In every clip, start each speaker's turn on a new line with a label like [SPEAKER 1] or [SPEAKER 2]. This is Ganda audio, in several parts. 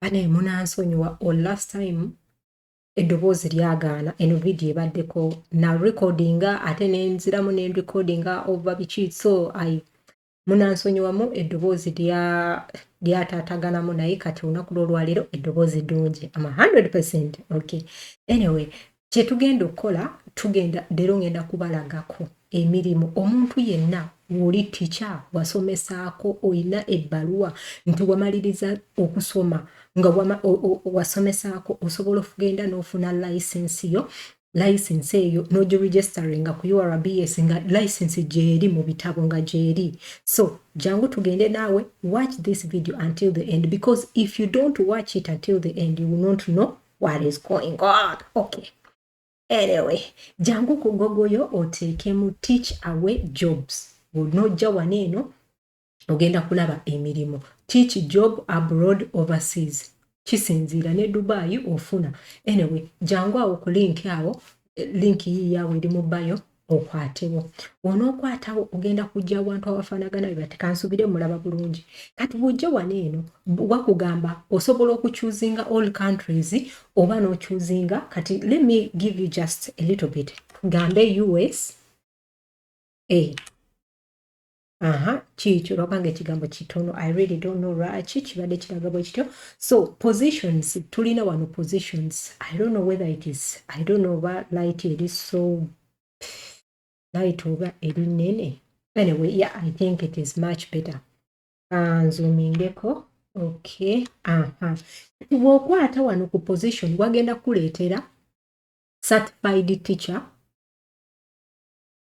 [SPEAKER 1] bane munansonyiwa o last time eddoboozi lyagaana eno vidiyo ebaddeko na recordinga ate nenziramu ne recordinga oba biki so i munansonyiwamu eddoboozi lyataataganamu lya naye kati olunaku lwolwaleero eddoboozi ddungi ama 100 percent okay anyway kyetugenda okukola tugenda leero ngenda kubalagako emirimu omuntu yenna woli tica wasomesaako olina ebbaluwa nti wamaliriza okusoma nga wasomesaako osobola okugenda n'ofuna layisensi yo license eyo nogiregisteringa ku urbs nga license gyeri mu bitabo nga gyeri so jangu tugende naawe watch this video until the end because if you don't watch it until the end you will not know what is going on okay anyway jangu ku gogoyo oteekemu teach away jobs onojja wano eno ogenda kulaba emirimu teach job abroad overseas kisinziira ne dubai ofuna anyway jangu awo ku linki awo linki yiiyawo eri mu bayo okwatewo onookwatawo ogenda kujja abantu abafaanagana be bati kansubire mulaba bulungi kati bwojja wano eno wakugamba osobola okucuzinga all countries oba nocuzinga kati let me give you just a little bit gambe us a aha kiikyo lwabanga ekigambo kitono i really don't know lwaki kibadde kiraga bwe kityo so positions tulina wano positions i don't know whether it is i don't know oba light eri so light oba eri nene anyway yeah i think it is much better ah, nzumingeko okay aha bwokwata wano ku position wagenda kukuleetera certified teacher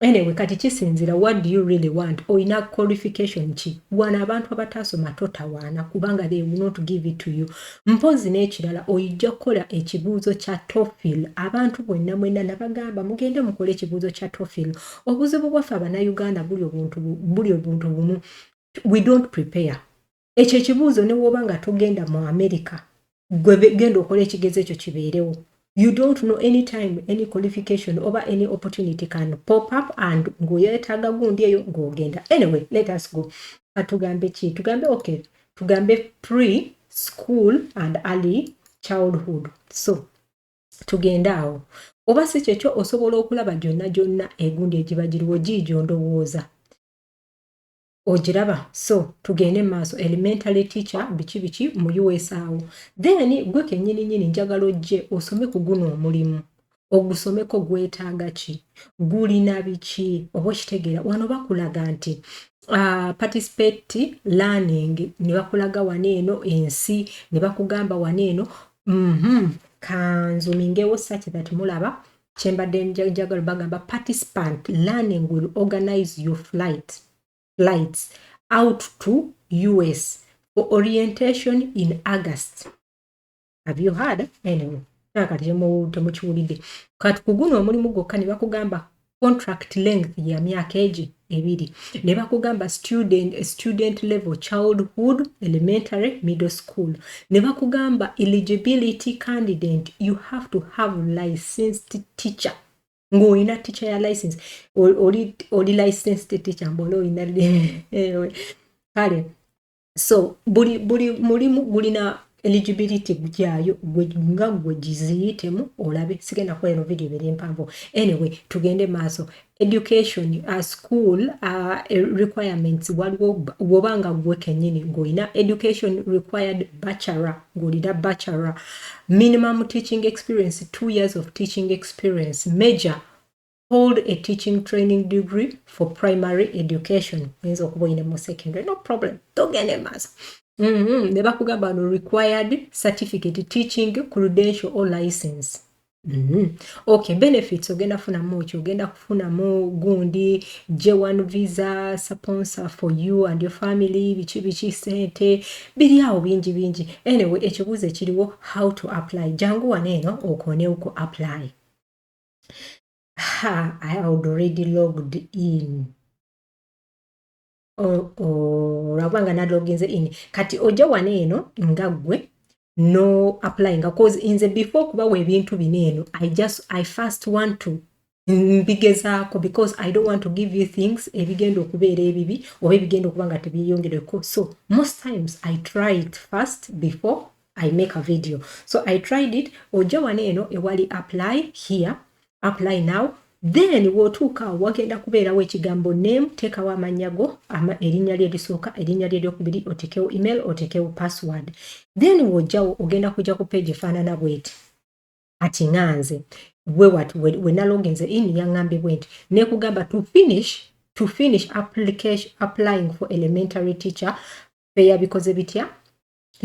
[SPEAKER 1] anyway kati kisinzira what do you really want oyina qualification ki wano abantu abataasoma totawaana kubanga they will not give it to you mpozi n'ekirala oyijja kukola ekibuuzo kya tofil abantu bwenna mwenna nabagamba mugende mukole ekibuuzo kya tofil obuzibu bwaffe abanauganda buli obuntu buli obuntu bumu we don't prepare ekyo ekibuuzo ne woba nga togenda mu america gwe genda okola ekigezo ekyo kibeerewo you don't know any time any qualification oba any opportunity can pop up and ng'oyetaaga gundi eyo ng'ogenda anyway let us go atugambe ki tugambe okay tugambe pre school and early childhood so tugende awo oba si kyekyo osobola okulaba gyonna gyonna egundi egiba giriwo giigyo ndowooza ogiraba so tugende maaso elementary teacher biki biki mu us awo then gwe kenyini nyini njagala ojje osome ku guno omulimu ogusomeko gwetaaga ki gulina biki oba okitegeera wano bakulaga nti uh, participate learning ne bakulaga wano eno ensi ne bakugamba wano eno mm -hmm. kanzumingewo saki that mulaba kyembadde njagala bagamba participant learning will organize your flight flights out to us for orientation in august have you heard anyway nakati temukiwulidde kati ku guno omulimu gwokka ne bakugamba contract length ya myaka egi ebiri ne bakugamba student, student level childhood elementary middle school ne bakugamba eligibility candidate you have to have licensed teacher ng'olina teacher ya license oli, oli licensed teacher mbola olina kale so buli buli mulimu gulina eligibility gyayo nga gwe giziyitemu olabe sigenda kukola eno video bere mpanvu anyway tugende maaso education uh, school uh, requirements waliwo woba nga gwe kenyini ngaolina education required bachelor ngaolina bachelor minimum teaching experience two years of teaching experience major hold a teaching training degree for primary education oyinza okuba oyine mu secondary no problem togende maaso mm-hmm. ne bakugamba no required certificate teaching credential or license Mm-hmm. Okay, benefits ogenda funamu ki ogenda kufunamu gundi J1 visa sponsor for you and your family biki biki sente biri awo bingi bingi anyway ekibuuzo ekiriwo how to apply jangu wano eno okonewo ku apply ha, I had already logged in olwakuba nga naloginze in kati ojja wano eno nga ggwe no apply nga cause inze before okubawa ebintu bino eno i just i first want to mbigezaako because i don't want to give you things ebigenda okubeera ebibi oba ebigenda okuba nga tebyeyongereko so most times i try it first before i make a video so i tried it ojja wano eno ewali apply here apply now then wotuuka wagenda kubeerawo ekigambo name teekawo amannya go ama erinnya lye lisooka erinnya lye lyokubiri otekewo email otekewo password then wojjawo ogenda kujja ku page efaanana bweti ati nga nze gwe wat wenaloginze in yaŋambye bwenti nekugamba to finish to finish application applying for elementary teacher feyabikoze bitya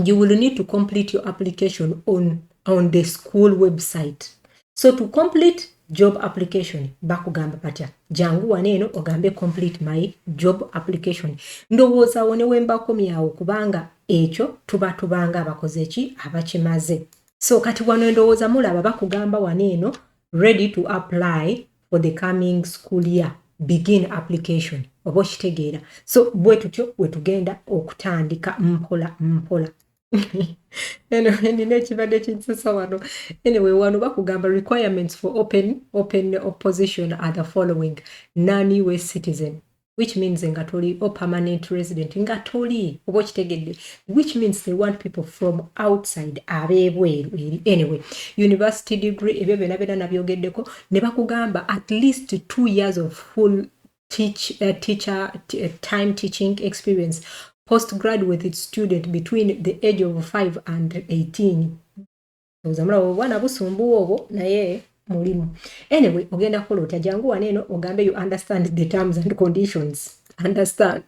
[SPEAKER 1] you will need to complete your application on, on the school website so to complete job application bakugamba patya jangu wano eno ogambe complete my job application ndowooza wo newembakomyawo kubanga ekyo tuba tubanga abakoze ki abakimaze so kati wano endowooza mulaba bakugamba wano eno ready to apply for the coming school year begin application oba okitegeera so bwe tutyo we tugenda okutandika mpola mpola nina ekibadde kinsesa wano anyway wano bakugamba requirements for open open opposition are the following non-us citizen which means nga toli or permanent resident nga toli oba okitegedde which means they want people from outside abebweru eri anyway university degree ebyo byona byona nabyogeddeko ne bakugamba at least two years of full teach, uh, teacher uh, time teaching experience postgraduate student between the age of 5 and 18 oza mulaba obwana busumbuwa obwo naye mulimu anyway ogenda kukola otya jangu wano eno ogambe you understand the terms and conditions understand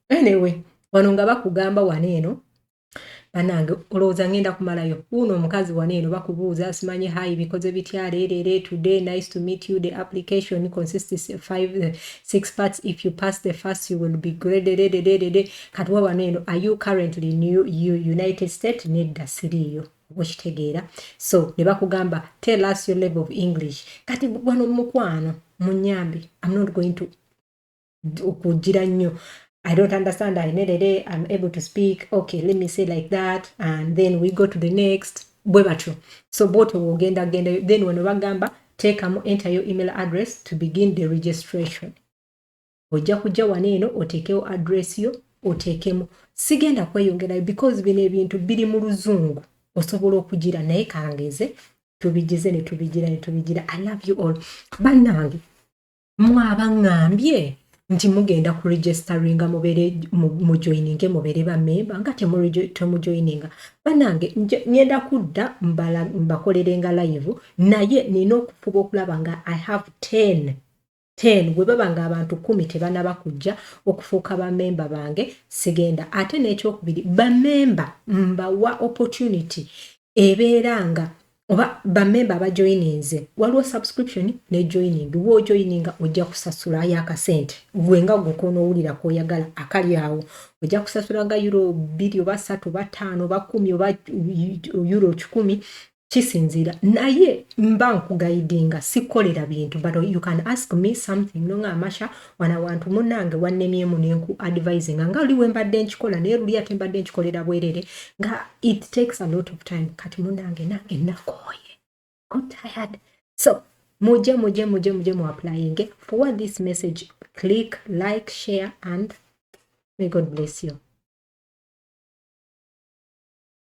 [SPEAKER 1] anyway wano nga bakugamba wano eno banange olowooza ngenda kumalayo wuuno omukazi wano eno bakubuuza simanyi hayi bikoze bitya leerere today nice to meet you the application consists of five, uh, six parts if you pass the first you will be graded kati we wano eno are you currently new you united state nedda siriiyo okitegeera so ne bakugamba tell us your level of english kati wano mukwano munyambe am not going to okugira nnyo I don't understand. I need a I'm able to speak. Okay, let me say like that. And then we go to the next. Bwe batyo. So boto wogenda genda. Then wano bagamba, take a enter your email address to begin the registration. ojja kujja wano eno oteekewo address yo oteekemu sigenda kweyongerayo because bino ebintu biri mu luzungu osobola okugira naye kangeze tubigize ne tubigira ne tubigira i love you all bannange mwabaŋambye nti mugenda ku registeringa mubere mujoininge mubere bamemba nga temujoininga banange ngenda kudda mbakolerenga live naye nina okufuba okulaba nga i have 10 ten bwe baba ng'abantu kkumi tebanaba kujja okufuuka bamemba bange sigenda ate n'ekyokubiri bamemba mbawa opportunity ebeera nga oba bamemba abajoyininze waliwo subscription ne joining woojoyininga ojja kusasula yo akasente gwe nga gwe konoowulira kwoyagala akali awo ojja kusasula nga euro bbiri oba satu oba ttaano oba kumi oba euro kikumi kisinziira naye mba nkugayidinga sikolera bintu but you can ask me something no nga amasha wana wantu munange wannemyemu nenku advising nga oli wembadde nkikola naye luli ate mbadde nkikolera bwerere nga it takes a lot of time kati munange nange nakooye tired so muje muje muje muje mu applying for what this message click like share and may god bless you